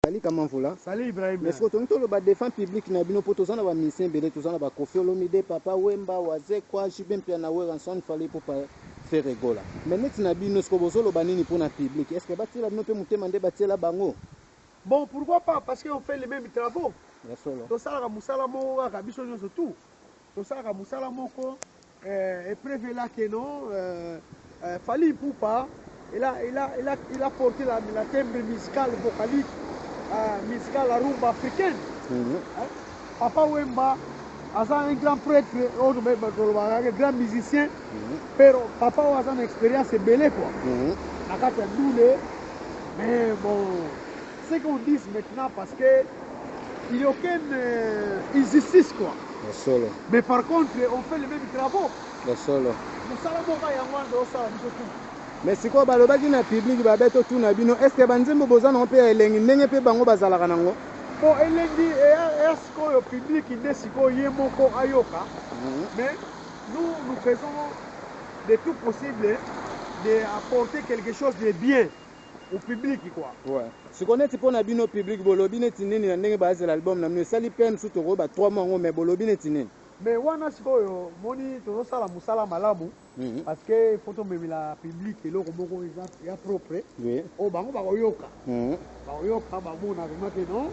Salut Kamanvula. Salut Ibrahim. Mais siko tongi toloba defend public na bino po toza na ba musiciens ebele toza na ba Koffi Olomide, Papa Wemba, Wazekwa, JB Mpiana, Werrason, Fally Ipupa, Ferre Gola. Mais neti na bino siko bozo loba nini po na public? Est-ce que ba tiela bino pe mutema nde ba tiela bango? Bon pourquoi pas parce que on fait les memes travaux. Ya solo. Tosalaka musala moko kaka biso nionso tout. Tosalaka musala moko. Eh, epreuve est là que non, euh, euh, Fally Ipupa, il a, il a, il a, il a porté la, la timbre musicale vocalique, euh, musicale la rumba africaine. Mm -hmm. hein? Papa Wemba, aza un grand prêtre, oyo tolobaka que grand musicien, mm -hmm. pero papa oyo aza na expérience ebele quoi. Mm -hmm. na kati ya dule mais bon ce qu'on dise maintenant parce que il y a aucune euh, injustice quoi ya solo mais par contre on fait les mêmes travaux ya solo mosala moko ya yango wana tosala biso tout me sikoyo balobaki na publiki babe totuna bino estce banzembo boza nango mpe ya elengi ndenge mpe bango bazalaka nango po elengi eya eya sikoyo publiki nde sikoyo ye moko ayoka Mhm. mais nous nous faisons de tout possible de apporter quelque chose de bien au public quoi. Ouais. Siko neti pona bino public bolobi neti nini na ndenge bazela album na bino esali PM su toko ba 3 mois ngo mais bolobi neti nini? Mais wana sikoyo moni tozo sala musala malamu mm -hmm. parce que il faut to memela public eloko moko eza ya propre oui. oh bango bakoyoka mm -hmm. bakoyoka bamona vraiment que non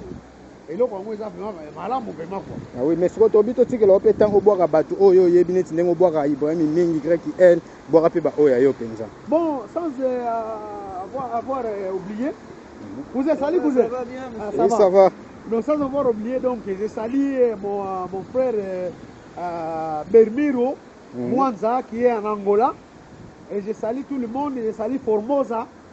eloko yango eza vraiment malamu vraiment quoi ah oui mais siko tobi to tikela ope tango bwaka bato oyo oh, yebi neti ndenge bwaka Ibrahim mingi greki elle bwaka pe ba oyo ayo penza bon sans euh, avoir avoir euh, oublié mhm. vous êtes sali vous êtes ah, ça, va. ça va donc sans avoir oublié donc j'ai sali euh, mon euh, mon frère euh, euh, Bermiro mm -hmm. Mwanza qui est en Angola et j'ai sali tout le monde j'ai sali Formosa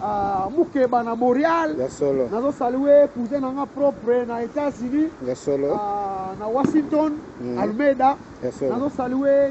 Ah, mukeba na boreal nazo salue cousin na nga propre na états-unis ah, na washington mm. almeida nazo salue